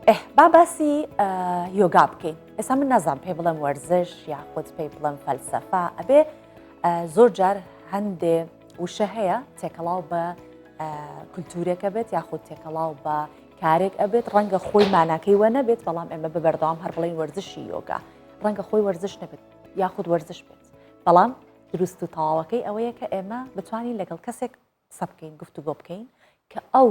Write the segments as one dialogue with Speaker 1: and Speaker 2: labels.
Speaker 1: ئه با باسی یۆگا بکەین ئێستا من نازان پێ بڵم وەرزش یاخود پێی بڵم فەلسەفا ئەبێ زۆر جار هەندێ وشە هەیە تێکەڵاو بە کولتورێکە بێت یاخود تێکەڵاو بە کارێک ئەبێت ڕەنگە خۆی ماناکەی وە نەبێت بەڵام ئێمە بە بەردەوام هەر بڵین وەرزشی یۆگا ڕەنگە خۆی وەرزش نەبێت یاخود وەرزش بێت بەڵام دروست و تەواوەکەی ئەوەیە کە ئێمە بتوانین لەگەڵ کەسێک قسە بکەین گفتوگۆ بکەین کە ئەو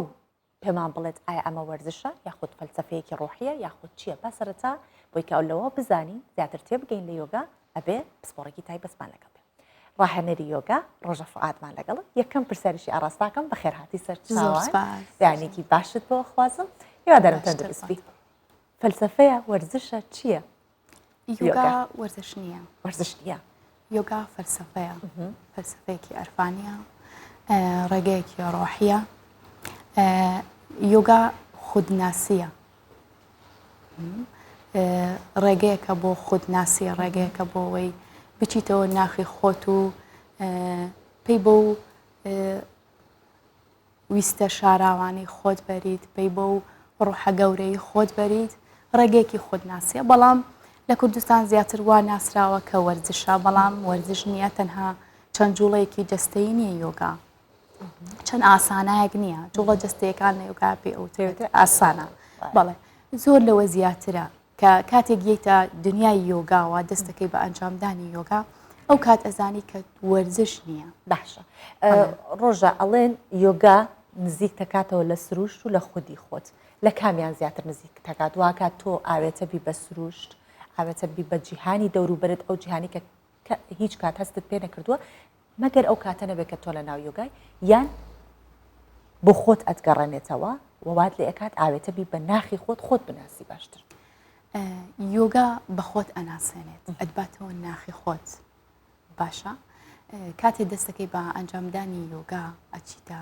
Speaker 1: پێمان بڵێت ئایا ئەمە وەرزشە یاخود فەلسەفەیەکی ڕۆحیە یاخود چییە با سەرەتا بۆی کە لەوە بزانین زیاتر تێبگەین لە یۆگا ئەبێ پسپۆڕێکی تایبەتمان لەگەڵ بێ ڕاهێنەری یۆگا ڕۆژە فعادمان لەگەڵ یەکەم پرسیاریشی ئاراستاکەم بە خێرهاتی سەر دانێکی باشت بۆ خوازم هیوادارم تەندروست بیت فەلسەفەیە وەرزشە چییە؟ یۆگا
Speaker 2: وەرزش نییە وەرزش نییە
Speaker 1: یۆگا
Speaker 2: فەلسفەیە فەلسفەیەکی ئەرفانە ڕێگەیەکی ڕۆحیە یۆگا خودناسیە ڕێگەیەکە بۆ خودناسی ڕێگەیەکە بۆەوەی بچیتەوە ناخی خۆت و پێی بۆ ویستە شاراوانەی خۆت بەریت پەی بەو ڕوحە گەورەی خۆت بەریت ڕێگەیەکی خودناسیە بەڵام لە کوردستان زیاتر وا ناسراوە کە وەرزشە بەڵام وەرزش نییە تەنها چەند جوڵەیەکی جەستەی نییە یۆگا چەند ئاسانایەک نییە جوڵە جستەکان لە یوگا پێ ئەوتێت ئاسانە بەڵێ زۆر لەوە زیاترە کە کاتێک یەیتە دنیای یۆگاوە دەستەکەی بە ئەنجامدانی یۆگا ئەو کات ئەزانی کە وەرزش نییە باشە
Speaker 1: ڕۆژە ئەڵێن یۆگا نزیک تەکاتەوە لە سروشت و لە خودی خۆت لە کامیان زیاتر نزیک تەکات واکات تۆ ئاوێتە بی بە سروشت ئاوێتە بی بە جیهانی دەوروبرد ئەو جیهانی کە کە هیچ کات هەستت پێ نەکردووە مەگەر ئەو کاتە نەبێت کە تۆ لە ناو یۆگای یان بۆ خۆت ئەتگەڕێنێتەوە و وات لێ ئەکات ئاوێتە بی بە ناخی خۆت خۆت بناسی باشتر
Speaker 2: یۆگا بە خۆت ئەناسێنێت ئەتباتەوە ناخی خۆت باشە کاتێ دەستەکەی بە ئەنجامدانی یۆگا ئەچیتە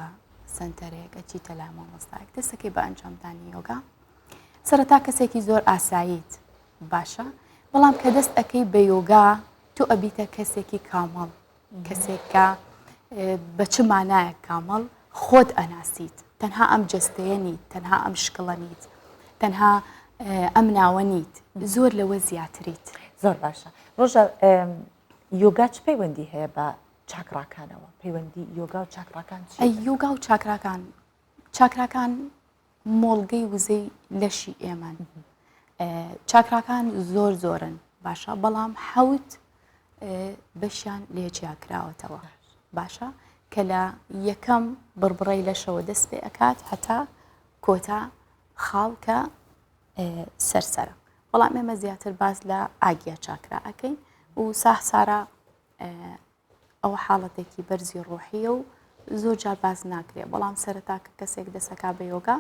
Speaker 2: سنتەرێک ئەچیتە لای مامۆستایەک دەستەکەی بە ئەنجامدانی یۆگا سەرەتا کەسێکی زۆر ئاساییت باشە بەڵام کە دەست ئەەکەی بە یۆگا تۆ ئەبیتە کەسێکی کامەڵ کەسێکە بە چ مانایە کامەڵ خۆت ئەناسیت تەنها ئەم جستەیە نیت تەنها ئەم شکڵە نیت تەنها ئەم ناوە نیت زۆر لەوە زیاتریت زۆر باشە
Speaker 1: ڕۆژە یۆگا چ پەیوەندی هەیە بە چاکڕاکانەوە پەیوەندی یۆگا و چاکڕاکان یۆگا و چاکراکان
Speaker 2: چاکراکان مۆڵگەی وزەی لەشی ئێمەن چاکراکان زۆر زۆرن باشە بەڵام حەوت بەشیان لێ جیا کراوەتەوە باشە کە لە یەکەم بڕبڕی لەشەوە دەست پێ ئەکات هەتا کۆتا خاڵکە سەرسرە بەڵام ئێمە زیاتر باس لە ئاگیا چاکرا ئەەکەین و ساح سارا ئەوە حاڵەتێکی بەرزی ڕۆحییە و زۆر جار باس ناکرێت بەڵام سەرەتا کە کەسێک دەسەکا بە یۆگا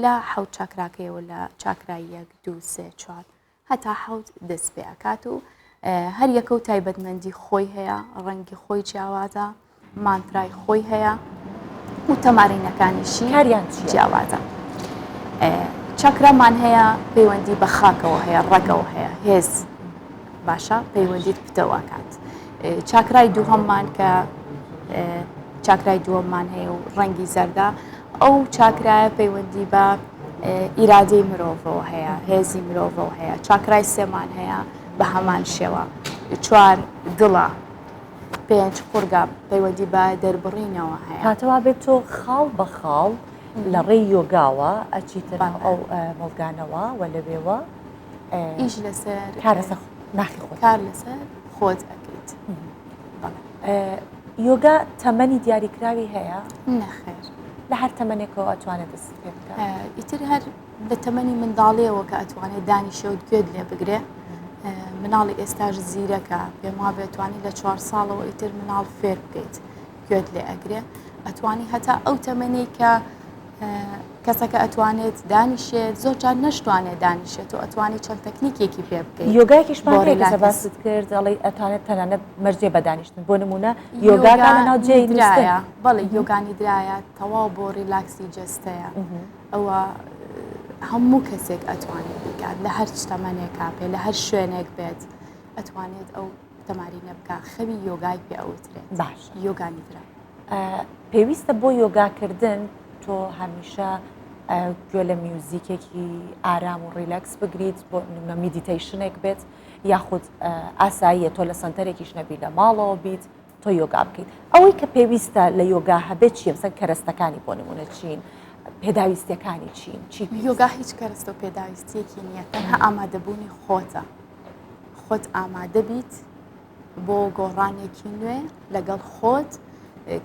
Speaker 2: لە حەوت چاکراکەیەوە لە چاکراییەک دوو سێ چوار هەتا حەوت دەست پێ ئەکات و هەر یەکە و تایبەتمەندی خۆی هەیە ڕەنگی خۆی جیاوازە مانترای خۆی هەیە و تەمارینەکانیشی هەریان جیاوازە چاکرامان هەیە پەیوەندی بە خاکەوە هەیە ڕەگەوە هەیە هێز باشە پەیوەندیت پتەواکات چاکرای دووهەممان کە چاکرای دووەممان هەیە و ڕەنگی زەردە ئەو چاکرایە پەیوەندی بە ئیرادەی مرۆڤەوە هەیە هێزی مرۆڤەوە هەیە چاکرای سێمان هەیە بە هەمان شێوە چوار دڵە پێنج قورگە پەیوەندی بە دەربڕینەوە هەیە هاتەوا بێت تۆ
Speaker 1: خاڵ بە خاڵ لە ڕێی یۆگاوە ئەچیتر ئەو مڵگانەوە و لەوێوە ئیش
Speaker 2: لەسەر کارەسە ناخی
Speaker 1: خۆ کار لەسەر
Speaker 2: خۆت ئەکەیت
Speaker 1: یۆگا تەمەنی دیاریکراوی هەیە نەخێر
Speaker 2: لە هەر
Speaker 1: تەمەنێکەوە ئەتوانێت دەست پێ بکە ئیتر هەر
Speaker 2: لە تەمەنی منداڵیەوە کە ئەتوانێت دانی شەوت گوێت لێ بگرێ مناڵی ئێستاش زیرەکە پێم وا بێتوانی لە چوار ساڵەوە ئیتر مناڵ فێر بکەیت گوێت لێ ئەگرێ ئەتوانی هەتا ئەو تەمەەی کە کەسەکە ئەتوانێت دانیشێت زۆر جار نشتوانێت دانیشێت و ئەتوانی چەند تەکنیکێکی پێ بکەیت یۆگایکیش باست
Speaker 1: کرد ئەڵی ئەتوانێت تەنانە مەرجێ بەدانیشتن بۆ نمونە یۆگاگان ناو جێدرایە بەڵی
Speaker 2: یۆگانی درایە تەواو بۆ ریلاکسی جستەیە ئەوە هەموو کەسێک ئەتوانێت بکات لە هەر شتەمەێک کاپێ لە هەر شوێنێک بێت ئەتوانێت ئەو تەمارینە بکە خەوی یۆگای پێ ئەوترێت باش یۆگا نیدرا پێویستە
Speaker 1: بۆ یۆگاکردن تۆ
Speaker 2: هەمیشە
Speaker 1: گوێ لە میوزیکێکی ئارام و ڕیلکس بگریت بۆ نمە میدیتەیشنێک بێت یاخود ئاساییە تۆ لە سنتەرێکیش نەبی لە ماڵەوە بیت تۆ یۆگا بکەیت ئەوەی کە پێویستە لە یۆگا هەبێت چیە سەر کەرەستەکانی بۆ نمونە چین پێداویستەکانی چین چی یۆگا هیچ کەرەستە
Speaker 2: پێداویستیەکی نییە تەنها ئامادەبوونی خۆتە خۆت ئامادە بیت بۆ گۆڕانێکی نوێ لەگەڵ خۆت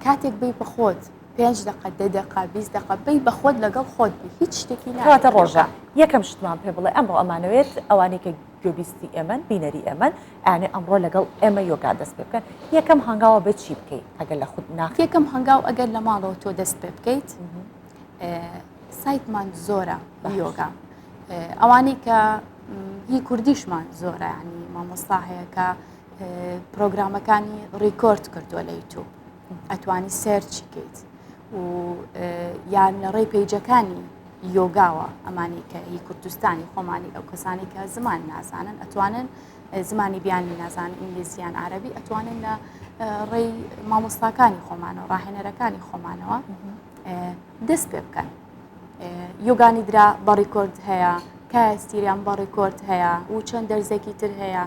Speaker 2: کاتێک بی بە خۆت پێنج دقە دە دقا بیست دقە بی بە خۆت لەگەڵ خۆت بی هیچ شتێکی ناتە ڕۆژە
Speaker 1: یەکەم شتمان پێ بڵێ ئەمڕۆ ئەمانەوێت ئەوانەی کە گوێبیستی ئێمەن بینەری ئێمەن ئەیانێ ئەمڕۆ لەگەڵ ئێمە یۆگا دەست پێ بکەن یەکەم هەنگاوە بە چی بکەیت ئەگەر لە خود ناخ یەکەم هەنگاو ئەگەر لە
Speaker 2: ماڵەوە تۆ دەست پێ بکەیت سایتمان زۆرە بە یۆگا ئەوانەی کە هی کوردیشمان زۆرە ینی مامۆستا هەیە کە پرۆگرامەکانی ڕیکۆرد کردووە لە یوتوب ئەتوانی سێرچی کەیت و یان لە ڕێی پیجەکانی یۆگاوە ئەمانی کە هی کوردستانی خۆمانی ئەو کەسانی کە زمان نازانن ئەتوانن زمانی بیانی نازان ئینگلیزیان عربی ئەتوانن لە ڕێی مامۆستاکانی خۆمانەوە ڕاهێنەرەکانی خۆمانەوە دەست پێ بکەن یۆگانی درا بە ڕیکۆرد هەیە کای ستیریان بە ڕیکۆرد هەیە و چەند دەرزێکی تر هەیە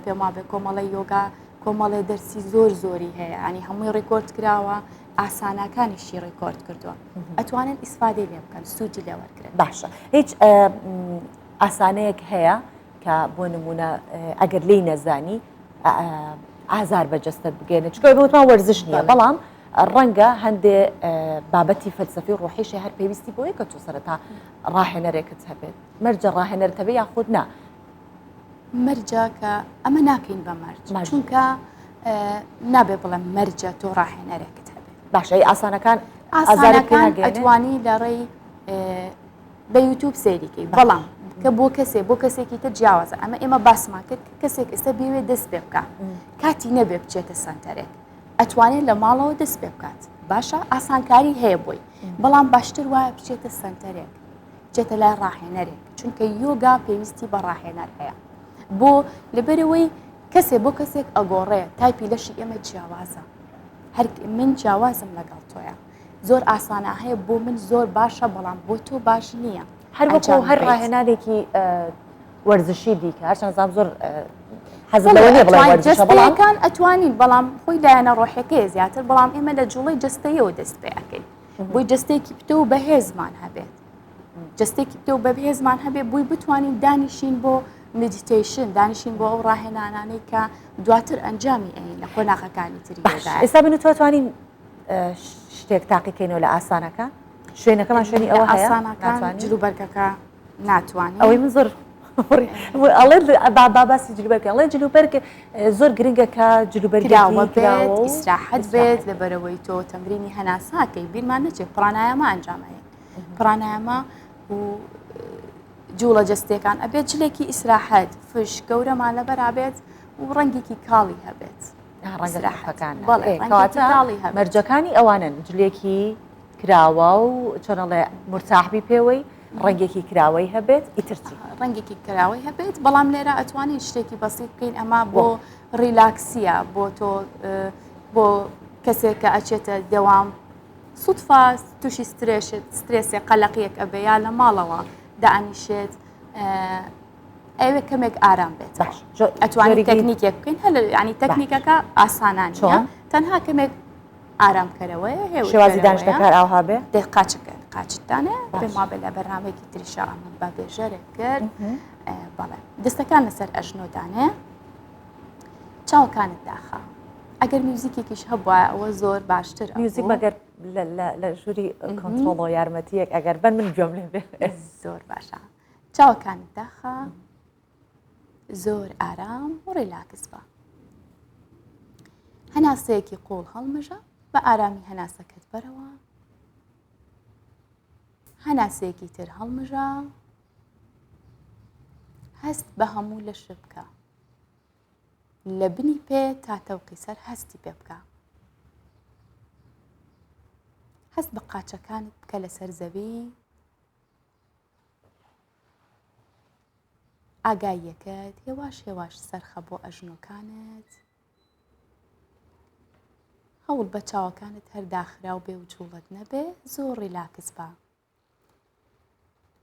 Speaker 2: پێم وابێ کۆمەڵی یۆگا کۆمەڵێ دەرسی زۆر زۆری هەیە ئەنی هەمووی ڕیکۆرد کراوە ئاسانەکانیشی ڕیکۆرد کردووە ئەتوانن ئیسفادەی لێ بکەن سوودی لێ وەرگن باشە هیچ
Speaker 1: ئاسانەیەک هەیە کە بۆ نمونە ئەگەر لی نەزانی ئازار بە جستت بگەێنە چکە بۆتان وەرزش نیە بەڵام ڕەنگە هەندێ بابەتی فەلسەفی ڕۆحیشی هەر پێویستی بۆیە کە تۆ سەرەتا ڕاهێنەرێکت هەبێت مەرجە ڕاهێنەرتەوە یاخود نا
Speaker 2: مەرجە کە ئەمە ناکەین بە مەرج چونکە نابێ بڵێم مەرجە تۆ ڕاهێنەرێکت هەبێت باشەی ئاسانەکان
Speaker 1: ئازارەکان
Speaker 2: ئەتوانی لە ڕێی بە یوتوب سەیریکەی بەڵام کە بۆ کەسێ بۆ کەسێکی تر جیاوازە ئەمە ئێمە باسمان کرد کەسێک ئێستا بێوێ دەست پێ بکە کاتی نەبێ بچێتە سنتەرێک ئەتوانێت لە ماڵەوە دەست پێ بکات باشە ئاسانکاری هەیە بۆی بەڵام باشتر وایە بچێتە سنتەرێک بچێتە لای ڕاهێنەرێک چونکە یۆگا پێویستی بە ڕاهێنەر هەیە بۆ لەبەرەوەی کەسێ بۆ کەسێک ئەگۆڕێ تایپی لەشی ئێمە جیاوازە هەر من جیاوازم لەگەڵ تۆیە زۆر ئاسانە هەیە بۆ من زۆر باشە بەڵام بۆ تۆ باش نییە هەروەکو هەر
Speaker 1: ڕاهێنانێکی وەرزشی دیکە هەرچەند زام زۆر حەزەکان ئەتوانین بەڵام
Speaker 2: خۆی دایانە ڕۆحەکەی زیاتر بەڵام ئێمە لە جوڵی جستەیەوە دەست پێەکەین بۆی جستێکی پتە و بەهێزمان هەبێت جستێکی پتە و بەهێزمان هەبێ بووی بتوانین دانیشین بۆ مدیتیشن دانیشین بۆ ئەو ڕاهێنانانەی کە دواتر ئەنجامی ئەین لە قۆناغەکانی تری ئێستا بنتوانین
Speaker 1: شتێک تاقیکەینەوە لە ئاسانەکە شوێنەکەمان شوێنی ئەوە ئاسانەکان جلو
Speaker 2: بەرگەکە ناتوانانی ئەوەی من زۆر
Speaker 1: ئەڵێ باباسی جلوبەرکە ئەڵێ جلوبەرگ زۆر گرنگە کە جلوبەرگراوەئیسراحەت
Speaker 2: بێت لە بەرەوەی تۆ تەمرینی هەناساکەی بیرمان نەچێت پرانایەمە ئەنجامەیە پرانایەمە و جوڵە جستەکان ئەبێت جلێکی ئیسراحەت فش گەورەمان لە بەرابێت و ڕەنگێکی کاڵی هەبێت ڕەنگە کەرپەکان بەڵێ کەواتە
Speaker 1: تاڵی هەم مەرجەکانی ئەوانن جلێکی کراوە و چۆنەڵێ مرتاحبی پێوەی ڕەنگێکی کراوەی هەبێت ئیترچی ڕەنگێکی کراوەی
Speaker 2: هەبێت بەڵام لێرە ئەتوانین شتێکی بەسیت بکەین ئەما بۆ ڕیلاکسیە بۆ تۆ بۆ کەسێک کە ئەچێتە دەوام سوتفا تووشی سترێشت سترێسێ قەلەقیەک ئەبێ یا لە ماڵەوە دانیشێت ئەوێ کەمێک ئارام بێت ئەتوانی تەکنیکێک بکەین هەل ینی تەکنیکەکە ئاسانان چۆن تەنها کەمێک ئارام بکەرەوەی شێوازی
Speaker 1: داشتەکار ئاها بێ دێ قاچەکە
Speaker 2: قاچدانە پێما بێ لە بەرنمێکی تریشا ئەمە بە بێژەرێک کرد بەڵێ دەستەکان لەسەر ئەژنۆدانێ چاوەکانت داخە ئەگەر میوزیکێکیش هەبووە ئەوە زۆر باشتر میوزیک بەگەر
Speaker 1: لە ژووری کۆنتۆڵۆ یارمەتیەک ئەگەر بەر من گوێم لێ بێ زۆر باشە
Speaker 2: چاوەکانت داخە زۆر ئارام و ڕێلاکس بە هەناسەیەکی قوڵ هەڵمژە بە ئارامی هەناسەکەت بەرەوە هەناسەیەکی تر هەڵمژە هەست بە هەموو لە شبکە لە بنی پێ تا تەوقی سەر هەستی پێ بکە هەست بە قاچەکانت بکە لەسەر زەوی ئاگاییەکەت هێواش هێواش سەرخە بۆ ئەژنۆکانت هەوڵ بە چاوەکانت هەر داخراو بێ و جوڵت نەبێ زۆر ڕیلاکس بە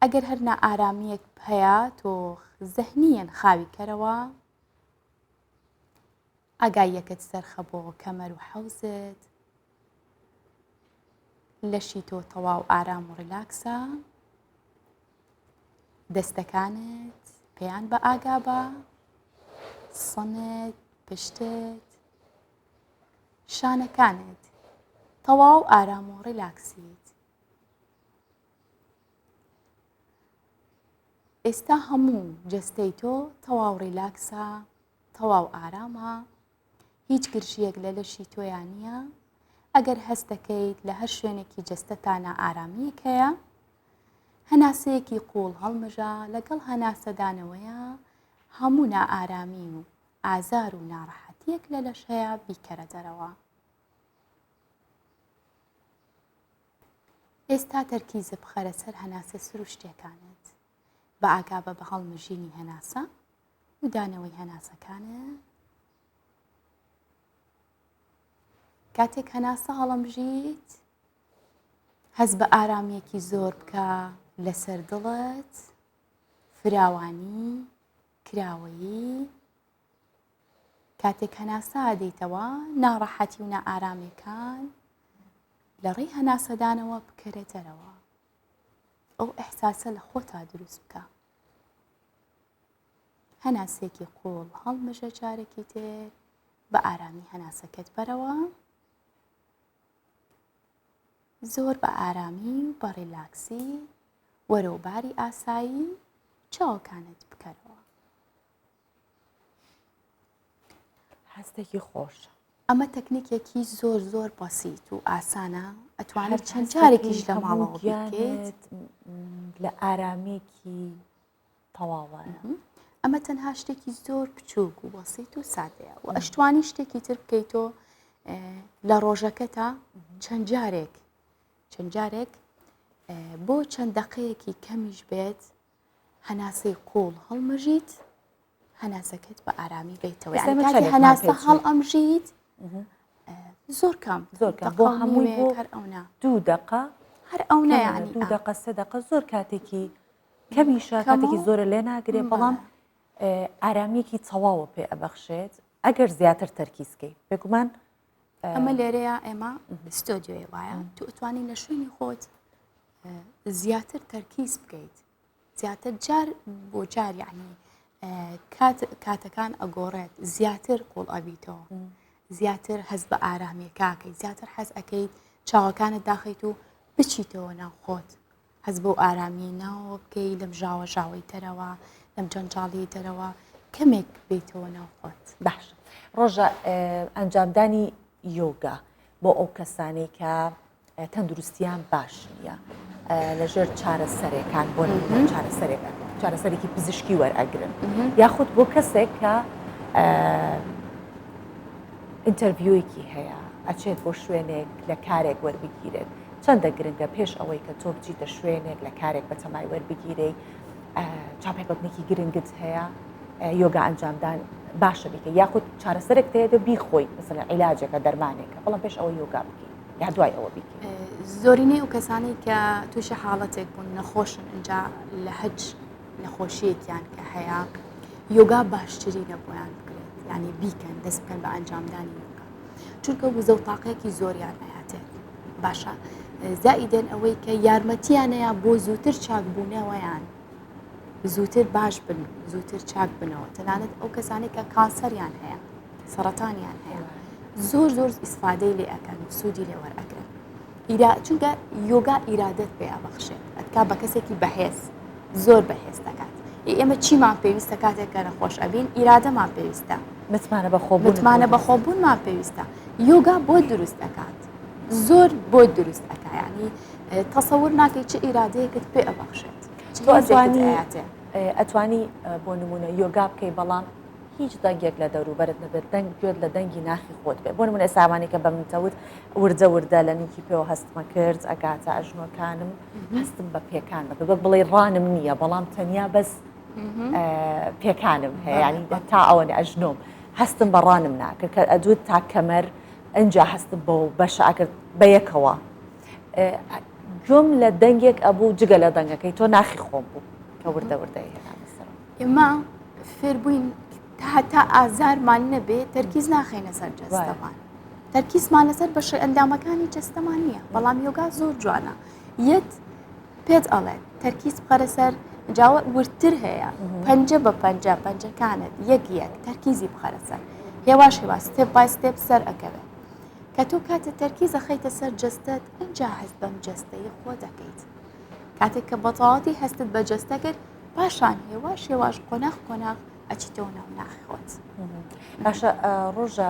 Speaker 2: ئەگەر هەرنا ئارامیەک هەیە تۆ زەهنیەن خاوی کەرەوە ئاگاییەکت سەرخە بۆ کەمەر و حەوزت لەشی تۆ تەواو ئارام و ڕیلاکسە دەستەکانت پێیان بە ئاگا بە سەنت پشتت شانەکانت تەواو ئارام و ڕیلاکسیت ئێستا هەموو جەستەی تۆ تەواو ڕیلاکسە تەواو ئارامە هیچ گرژیەک لە لەشی تۆیان نییە ئەگەر هەست دەکەیت لە هەر شوێنێکی جەستەتانە ئارامیەک هەیە هەناسەیەکی قوڵ هەڵمژە لەگەڵ هەناسەدانەوەیە هەموو نائارامی و ئازار و ناڕەحەتیەک لە لەش هەیە بیکەرە دەرەوە ئێستا تەرکیزە بخەرە سەر هەناسە سروشتیەکانت بە ئاگابە بە هەڵمژینی هەناسە و دانەوەی هەناسەکانە کاتێک هەناسە هەڵمژیت هەز بە ئارامیەکی زۆر بکە لەسەر دڵت فراوانی کراوەیی کاتێک هەناسە ئەدەیتەوە، ناڕەحەتی و نائارامێکان لە ڕێی هەناسەدانەوە بکەرە دەرەوە. ئەو ئەحساسە لە خۆتا دروست بکە. هەناسێکی قوڵ هەڵمژە جارێکی تر بە ئارامی هەناسەکەت بەرەوە زۆر بە ئارامی و بە ڕیلاکسی وەرەوباری ئاسایی چاوەکانت بکەرەوە
Speaker 1: هەستێکی خۆشە ئەمە تەکنیکێکی
Speaker 2: زۆر زۆر بەسییت و ئاسانە ئەتوانێت چەند جارێکیش لە ماڵەوەگەێت لە
Speaker 1: ئارامیکی تەواوە ئەمە
Speaker 2: تەنها شتێکی زۆر بچووک و بەسییت و سادەیە و ئەشتوانی شتێکی تر بکەیتۆ لە ڕۆژەکە تا چەند جارێک چەند جارێک بۆ چەند دەقەیەکی کەمیش بێت هەناسەی قوڵ هەڵمژیت هەناسەکەت بە ئارامی بیتەوە ئێستا مە کاتی چەندێک هەناسە ماپێچی؟ هەڵ ئەمژیت زۆر کەم زۆر کەم. دەقە بۆ و هەمووی نیوێک
Speaker 1: بۆ هەر ئەونا دوو دەقە هەر ئەونا کەمە،
Speaker 2: یعنی دوو آه. دەقە سێ دەقە
Speaker 1: زۆر کاتێکی کەمیشە کەمە کاتێکی و- زۆرە لێ ناگرێ بەڵێ. بەڵام ئه، ئارامیەکی تەواوە پێ ئەبەخشێت ئەگەر زیاتر تەرکیزکەی بێگومان ئەمە
Speaker 2: لێرەیە ئێمە ستۆدیۆی وایە تو ئەتوانی لە شوێنی خۆت زیاتر تەرکیز بکەیت زیاتر جار بۆ جار یعنی کاتەکان ئەگۆڕێت زیاتر قۆڵ ئەبییتەوە زیاتر هەز بە ئارامیەکەکەی زیاتر حەز ئەەکەیت چاوەکانت داخیت و بچیتەوە ناو خۆت هەست بەو ئارامیەی ناوەوە بکەی لەم ژاوە ژاوەی دەرەوە لەم جەنجاڵی دەرەوە کەمێک بیتەوە ناو خۆت باش ڕۆژە
Speaker 1: ئەنجامدانی یۆگا بۆ ئەو کەسانەی کە تەندروستیان باش نیە لەژێر چارەسەرێکان بۆ چارەسەرێکە چارەسەرێکی پزیشکی وەرئەگرن یاخود بۆ کەسێک کە ئینتەرڤیویکی هەیە ئەچێت بۆ شوێنێک لە کارێک وەربگیرێت چەندە گرنگە پێش ئەوەی کە تۆ بچیتە شوێنێک لە کارێک بە تەمای وەربگیرەی چاپێکوتنێکی گرنگت هەیە یۆگا ئەنجامدان باشە بیکە یاخود چارەسەرێک تەیە دە بیخۆی مثل عیلاجەکە دەرمانێکە بەڵام پێش ئەوە یۆگا بکەیت یا دوای ئەوە بیکە زۆرینەی و
Speaker 2: کەسانی کە تووشە حاڵەتێک بوون نەخۆشن ئەجا لە هەج نەخۆشیەکیان کە هەیە یۆگا باشتری نەبوویان بکرێت ینی بیکەن دەست بکەن بە ئەنجامدانی یۆگا چونکە وزە و تاقێکی زۆریان ئەهاتێت باشە زائیدەن ئەوەی کە یارمەتیانەیە بۆ زووتر چاک بوونەوەیان زووتر باش بن زووتر چاک بنەوە تەنانەت ئەو کەسانێک کە کانسەریان هەیە سەرەتانیان هەیە زۆر زۆر ئیسفادەی لێ ئەەکەن سوودی لێوەر ئەگرن ئیرا چونکە یۆگا ئیرادت پێ ئەبەخشێت ئەتکا بە کەسێکی بەهێز زۆر بەهێز دەکات ئێمە چیمان پێویستە کاتێک کە نەخۆش ئەبین ئیرادەمان پێویستە متمانە بەخۆ متمانە بەخۆبوونمان پێویستە یۆگا بۆ دروست ئەکات زۆر بۆ دروست ئەکایانی تەسەور ناکەی چ ئیرادەیەکت پێ ئەبەخشێت
Speaker 1: ئەتوانی بۆ نمونە یۆگا بکەی بەڵام هیچ دەنگێک لە دەوروبەرت نەبێت دەنگ گوێت لە دەنگی ناخی خۆت بێ بۆ من ئێساوانی کە بە منتەوت وردە وردە لە نوکی پێوە هەستمە کرد ئەگاتە ئەژنۆکانم هەستم بە پێکان بە بەک بڵێ ڕانم نییە بەڵام تەنیا بەس پێکانم هەیەیانی تا ئەوەن ئەژنۆم هەستم بەڕانم ناکە کە ئەدوت تا کەمەر ئەجا هەستم بۆ بەشە ئەکرد بە یەکەوە گوم لە دەنگێک ئەبوو جگە لە دەنگەکەی تۆ ناخی خۆم بوو کە وردە وردە ئێمە
Speaker 2: فێر بووین هەتا ئازارمان نەبێ تەرکیز ناخینە سەر جەستەمان تەرکیزمان لەسەر بەشی ئەندامەکانی جەستەمان نییە بەڵام یۆگا زۆر جوانە یەت پێت ئەڵێ تەرکیز بخەرە سەر جاوە وردتر هەیە پەنجە بە پەنجە پەنجەکانت یەک یەک تەرکیزی بخەرە سەر هێواش هێوا ستێپ بای ستێپ سەر ئەکەوێت کە تۆ کاتە تەرکیزە خەیتە سەر جستت ئەجا هەست بەم جستەی خۆ دەکەیت کاتێک کە بەتەواتی هەستت بە جستە کرد پاشان هێواش هێواش قۆناخ قۆناخ ئەچیتەوە ناو ناخۆت باشە
Speaker 1: ڕۆژە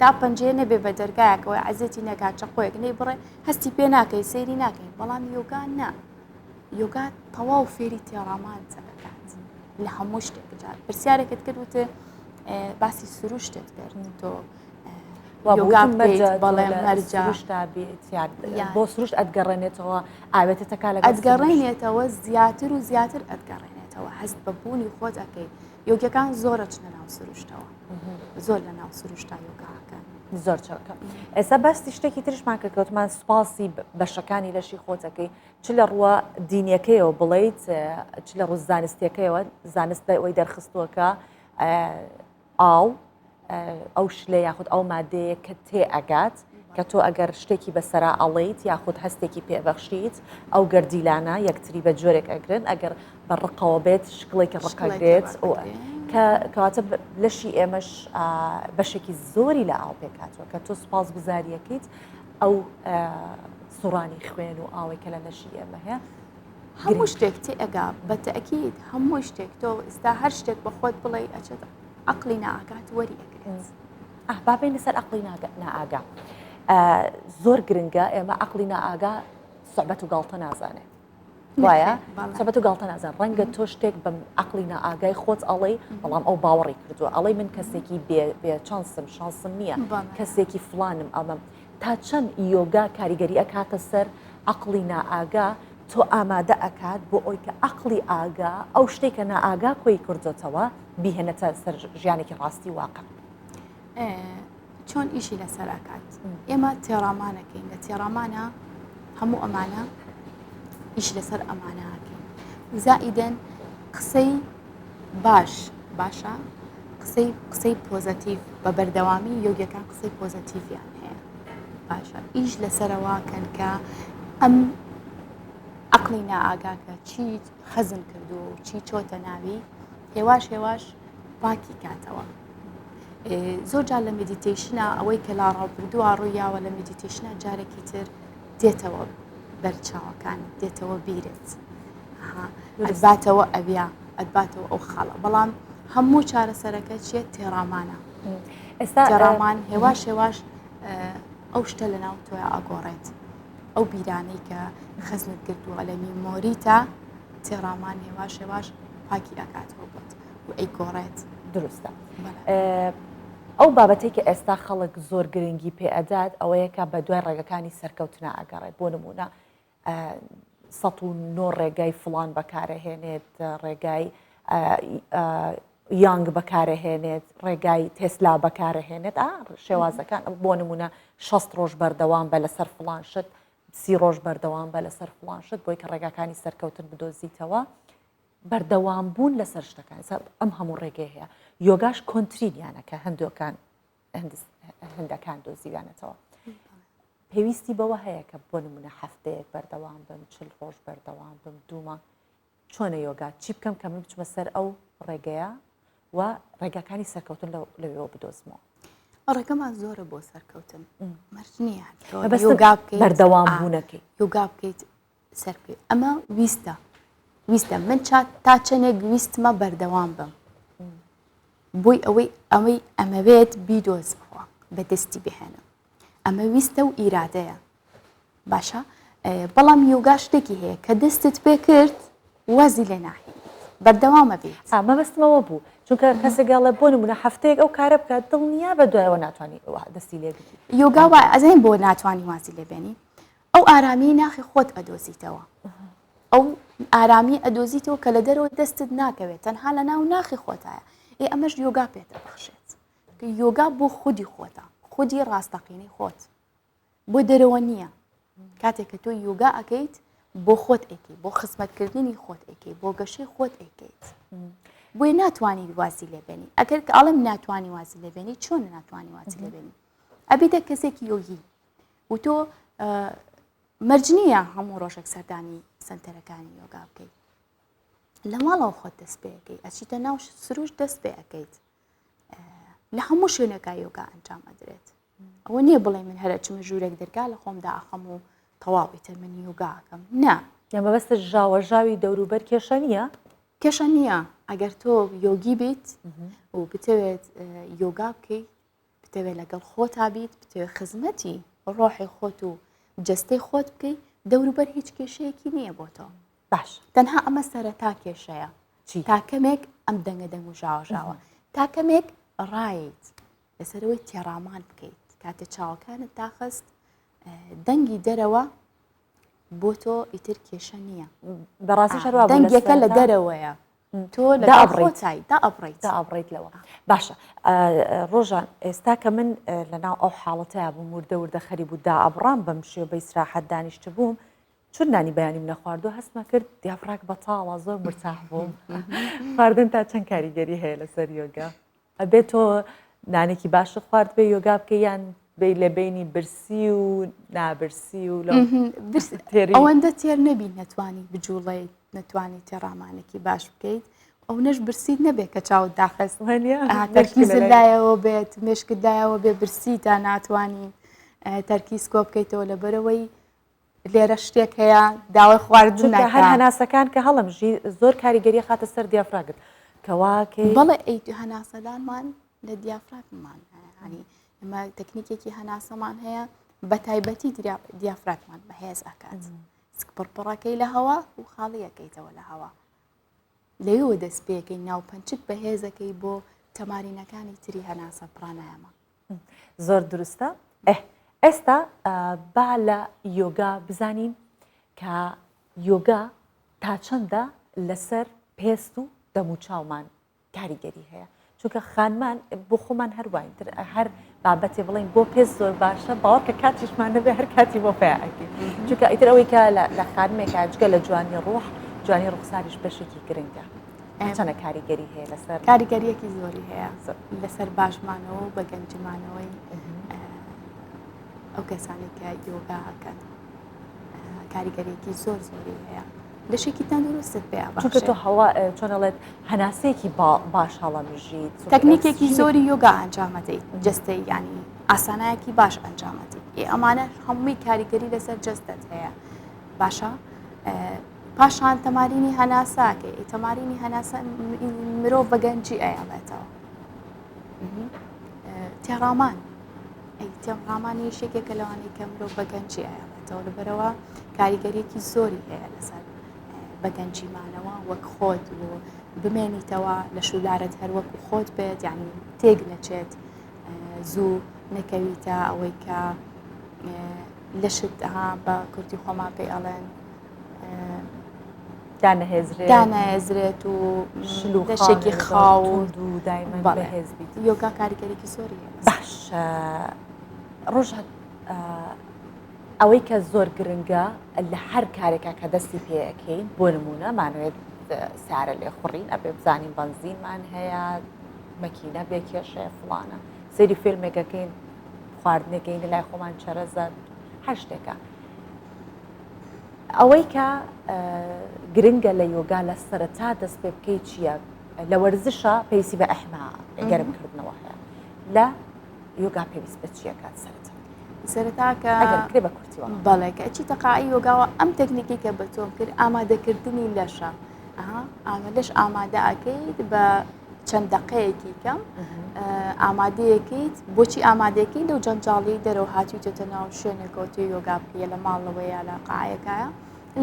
Speaker 2: تا پەنجەیە نەبێ بە دەرگایەکەوەی عزێتی نەکات چەقۆیەک نەی بڕێ هەستی پێ ناکەی سەیری ناکەین بەڵام یۆگا نا یۆگا تەواو فێری تێڕامان دەکات لە هەموو شتێک بجات پرسیارێکت کرد وتێ باسی سروشتت کرد تۆ
Speaker 1: بۆ سروشت ئەتگەڕێنێتەوە ئاوێتەکە لە ئەتگەڕێنێتەوە
Speaker 2: زیاتر و زیاتر ئەتگەڕێنێتەوە هەست بە بوونی خۆت ئەەکەیت یۆگەکان زۆرە چنە ناو سروشتەوە زۆر لە ناو سروشتا
Speaker 1: یۆگاکەن زۆر چاکە ئێستا باستی شتێکی ترشمان کە کەوتمان سوپاسی بەشەکانی لەشی خۆتەکەی چ لە ڕووە دینیەکەیەوە بڵیت چ لە ڕوو زانستیەکەیەوە زانست ئەوەی دەرخستووەکە ئاو ئەو شلە یاخود ئەو مادەیە کە تێ ئەگات کە تۆ ئەگەر شتێکی بەسەرا ئەڵێیت یاخود هەستێکی پێبەخشیت ئەو گەردیلانە یەکتری بە جۆرێک ئەگرن ئەگەر بە ڕقەوە بێت شکڵێکی ڕقەگرێت کە کەواتە لەشی ئێمەش بەشێکی زۆری لە ئاو پێکاتوە کە تۆ سوپاس گوزاریەکەیت ئەو سوڕانی خوێن و ئاوەی کە لە لەشی ئێمە هەیە هەموو شتێک
Speaker 2: تێ ئەگا بە تەکیت هەموو شتێک تۆ ئستا هەر شتێک بە خۆت بڵێ ئەچێت عقلی ناکات وەری ئەگرێت. ئاه با بێینە
Speaker 1: سەر ئەقڵی نائاگا زۆر گرنگە ئێمە ئەقلی نائاگا سەبەت و گاڵتە نازانێت وایە سەبەت و گاڵتە نازان ڕەنگە تۆ شتێک بم ئەقلی نائاگای خۆت ئەڵەی بەڵام ئەو باوەڕی کردووە ئەڵەی من کەسێکی بێ چانسم شانسم نییە کەسێکی فلانم ئەمەم تا چەند یۆگا کاریگەری ئەکاتە سەر ئەقلی نائاگا تۆ ئامادە ئەکات بۆ ئەوی کە ئەقلی ئاگا ئەو شتێکە نائاگا کۆی کردوتەوە بیهێنێتە سەر ژیانێکی ڕاستی واقع
Speaker 2: چۆن ئیشی لەسەر ئەکات ئێمە تێڕامانەکەین لە تێڕامانە هەموو ئەمانە ئیش لەسەر ئەمانەکەین زائیدەن قسەی باش باشە قسەی قسەی پۆزەتیف بە بەردەوامی یۆگەکان قسەی پۆزەتیفیان هەیە باشە ئیش لەسەرەوە کەن کە ئەم عقلی نائاگاکە چی خەزم کردو چی چۆتە ناوی هێواش هێواش پاکی کاتەوە زۆر جار لە مدیتیشنە ئەوەی کە لا ڕاوبردووە ڕوویاوە لە مدیتیشنە جارێکی تر دێتەوە بەرچاوەکان دێتەوە بیرت ئەزباتەوە ئەویا ئەدباتەوە ئەو خاڵە بەڵام هەموو چارەسەرەکە چیە تێڕامانە ئێستا ڕامان هێواش هێواش ئەو شتە لە ناو تۆە ئاگۆڕێت ئەو بیرانەی کە خزمت کردووە لە میمۆریتا تێڕامان هێواش هێواش پاکی ئەکاتەوە بۆت و ئەیگۆڕێت. دروستە
Speaker 1: ئەو بابەتی کە ئێستا خەڵک زۆر گرنگی پێ ئەدات ئەوەیە کە بە دوای ڕێگەکانی سەرکەوتنا ئەگەڕێت بۆ نمونە سە و نۆ ڕێگای فلان بەکارەهێنێت ڕێگای یانگ بەکارەهێنێت ڕێگای تێسلا بەکارەهێنێت ئا شێوازەکان بۆ نمونە شەست ڕۆژ بەردەوام بە لەسەر فلان شت سی ڕۆژ بەردەوام بە لەسەر فلان شت بۆی کە ڕێگاکانی سەرکەوتن بدۆزیتەوە بەردەوام بوون لەسەر شتەکان ئەم هەموو ڕێگەی هەیە یۆگاش کۆنتترینیانە کە هەندۆکان هەندەکان دۆزیویانەتەوە پێویستی بەوە هەیە کە بۆ نمونە هەفتەیەک بەردەوام بم چل ڕۆژ بەردەوام بم دوومە چۆنە یۆگا چی بکەم کە من بچمە سەر ئەو ڕێگەیە و ڕێگاکانی سەرکەوتن لەوێەوە بدۆزمەوە ڕێگەمان
Speaker 2: زۆرە بۆ سەرکەوتن مەرج نییە
Speaker 1: بەردەوام بوونەکەی یوگا بکەیت
Speaker 2: سەر پێ ئەمە ویستە ویستە من چات تا چەندێک ویستمە بەردەوام بم بۆی ئەوەی ئەمەی ئەمەوێت بیدۆزمەوە بەدەستی بهێنم ئەمە ویستە و ئیرادەیە باشە بەڵام یۆگا شتێکی هەیە کە دەستت پێ کرد وازی لێ ناهێ بەردەوامە بێت ئامە بەستمەوە بوو
Speaker 1: چونکە کەسێکگەڵە بۆ نمونە هەفتەیەک ئەو کارە بکات دڵنیا بە دوایەوە ناتوانانی دەستی لێ یۆگاوە ئەزین بۆ
Speaker 2: ناتوانانی واسی لێبێنی ئەو ئارامیەی ناخی خۆت ئەدۆزیتەوە ئەو ئارامی ئەدۆزیتەوە کە لە دەرەوە دەستت ناکەوێت تەنها لە ناو ناخی خۆتایە ئێ ئەمەش یۆگا پێتە بەخشێت یۆگا بۆ خودی خۆتە خودی ڕاستەقینەی خۆت بۆ دەرەوە نییە کاتێک کە تۆ یۆگا ئەەکەیت بۆ خۆت ئەیکەیت بۆ خزمەتکردنی خۆت ئەیکەیت بۆ گەشەی خۆت ئەیکەیت بۆی ناتوانانی واسی لێبێنی ئەگەر کە ئاڵم ناتوانانی واسی لێبێنی چۆن ناتوانانی واسی لێبێنی ئەبیدە کەسێکی یۆگی و تۆ مەرج نییە هەموو ڕۆژێک سەردانی سنتەرەکانی یۆگا بکەیت لە ماڵەوە خۆت دەست پێەکەی ئەچیتە ناو سروش دەست پێ ئەەکەیت لە هەموو شوێنەکە یۆگا ئەنجام ئەدرێت ئەوە نییە بڵێ من هەرە چمە ژوورێک دەرگا لە خۆم داخەم و تەواویتر من یۆگاکەم نا یان بەبەستە ژاوە
Speaker 1: ژاوی دەوروبەر کێشە نییە کێشە نییە
Speaker 2: ئەگەر تۆ یۆگی بیت و بتەوێت یۆگا بکەیت بتەوێت لەگەڵ خۆتا بیت بتەوێت خزمەتی ڕۆحی خۆت و جستەی خۆت بکەی دەوروبەر هیچ کێشەیەکی نییە بۆ تۆ باش تەنها
Speaker 1: ئەمە سەرەتا
Speaker 2: کێشەیە تاکەمێک ئەم دەنگە دەنگ و ژاوەژاوە تاکەمێک ڕایت لەسەرەوەی تێڕامان بکەیت کاتێ چاوەکانت تاخست دەنگی دەرەوە بۆ تۆ ئیتر کێشە نییە بەڕاستی شەروا
Speaker 1: دەنگەکە لە دەرەوەیە
Speaker 2: تۆ لەگەڵ خۆتای دا ئەبڕیت دا ئەبڕیت لەوە
Speaker 1: باشە ڕۆژان ئێستا کە من لەناو ئەو حاڵەتە بووم وردە وردە خەری بوو دا ئەبڕام بەم شێ بە ئیسراحەت دانیشت بووم چون نانی بەیانی منە خواردو هەستمە کرد دیافڕاک بەتاڵە زۆر مرتاح بووم خواردن تا چەند کاریگەری هەیە لەسەر یۆگە ئەبێ تۆ نانێکی باشە خوارد بێ یۆگا بکە یان بی لە بینی برسی و نابرسی و لە
Speaker 2: ئەوەندە تێر نەبی نەتوانی بجوڵی نەتوانی تێڕامانێکی باش بکەیت ئەو نەش برسیت نەبێت کە چاوت داخست لایەوە بێت مشکدایەوە بێ برسی تا ناتوانین تەرکیز کۆ بکەیتەوە لەبەرەوەی لێرە شتێک هەیە داوای خواردن چونکە هەر ناکا. هەناسەکان
Speaker 1: کە هەڵەمژی زۆر کاریگەری خاتە سەر دیافراگت کەواکەی بەڵێ ئەی تو
Speaker 2: هەناسەدانمان لە دیافراگممان هەیە هەنی ئەمە تەکنیکێکی هەناسەمان هەیە بە تایبەتی دریا- دیافراگمان بەهێز ئەکات سک پڕپڕەکەی لە هەوا و خاڵیەکەیتەوە لە هەوا لەوێوە دەست پێکەی ناو پەنچک بەهێزەکەی بۆ تەمارینەکانی تری هەناسە پڕانایەمە زۆر
Speaker 1: دروستە ئه ئێستا با لە یۆگا بزانین کە یۆگا تا چەندە لەسەر پێست و دەموچاومان کاریگەری هەیە چونکە خانمان بۆ خۆمان هەروواین تر هەر بابەتێ بڵین بۆ پێست زۆر باشە باوە کە کاتیشمان نەبێ هەر کاتی بۆ پیاکی چونکە ئیتر ئەوەی کە لە خانمێکا جگە لە جوانی ڕۆح جوانی ڕوخساریش بەشێکی گرنگە. چەنە کاریگەری هەیە لەسەر کاریگەریەکی زۆری
Speaker 2: هەیە لەسەر باشمانەوە و بە گەنجمانەوەی ئەو کەسانی کە یۆگاکەن کاریگەریەکی زۆر زۆری هەیە لەشێکی تەندروست پێ چونکە تۆ هەوا
Speaker 1: چۆنەڵێت هەناسەیەکی باش هەڵەمژیت تەکنیکێکی زۆری
Speaker 2: یۆگا ئەنجامەدەیت جستەی ینی ئاسانایەکی باش ئەنجامەتی ئەمانە هەمووی کاریگەری لەسەر جستت هەیە باشە پاشان تەمارینی هەناسە کە تەمارینی هەناسە مرۆڤ بە گەنجی ئەیاڵێتەوە تێڕامان تێڕامانی یشێکێکە لەوانی کە مرۆڤ بە گەنجی ئەیاڵێتەوە لەبەرەوە کاریگەریەکی زۆری هەیە لەسەر بە گەنجیمانەوە وەک خۆت و بمێنیتەوە لە شولارت هەروەک و خۆت بێت یعنی تێک نەچێت زوو نەکەویتە ئەوەی کە لەشت ها بە کورتی خۆمان پێ ئەڵێن دانەهێزرێت و شلوشێکی خاو و دایمە بەهێز
Speaker 1: بیت یۆگا کاریگەریکی
Speaker 2: زۆری باش
Speaker 1: ڕۆژ ئەوەی کە زۆر گرنگە لە هەر کارێکە کە دەستی پێەکەین بۆ نمونە مانوێت سارە لێ خوڕین ئەبێ بزانین بەنزینمان هەیە مەکینە بێ کێشەیە فڵانە سری فیلمێکەکەین خواردنەکەین لای خۆمان چەرەزە هەر شتێکە ئەوەی کە گرنگە لە یۆگا لە سەرەتا دەست پێ بکەی چییە لە وەرزشە پێویستی بە ئەحما گەرم کردنەوە هەیە لە یۆگا پێویست بە چیەکات سەرەتا سەرتاکە
Speaker 2: کرێ بە
Speaker 1: کورتیوە بەڵێکە چی تەقاعی
Speaker 2: یۆگاوە ئەم تەکنیکی کە بە تۆم کرد ئامادەکردنی لەشە ئەها ئامە لەش ئامادە ئەکەیت بە چەند دەقەیەکی کەم ئامادەیەکەیت بۆچی ئامادەکەی لەو جەنجاڵی دەرەوە هاتوویتە ناو شوێنێکەوەتی یۆگا بکە لە ماڵەوە یا لە قاعەکایە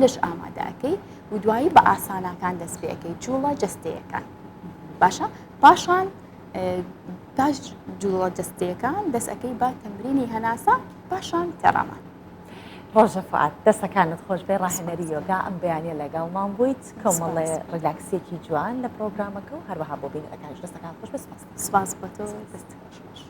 Speaker 2: لەش ئامادەکەی و دوایی بە ئاسانەکان دەست پێەکەی جوڵە جستەیەەکان باشە پاشان پاش جوڵە جستەکان دەستەکەی بە تەمرینی هەناسە پاشان تەڕەمان ڕۆژە
Speaker 1: فعات دەسەکانت خۆش بێ ڕاهێنەری یۆگا ئەم بەیانە لەگەڵمان بوویت کەمەڵێ ڕیلاکسێکی جوان لە
Speaker 2: پرۆگرامەکە
Speaker 1: و هەروەها بۆ بینەرەکانش
Speaker 2: دەستەکان
Speaker 1: خۆش بێ سپاس سپاس بۆ تۆ دەست خۆش.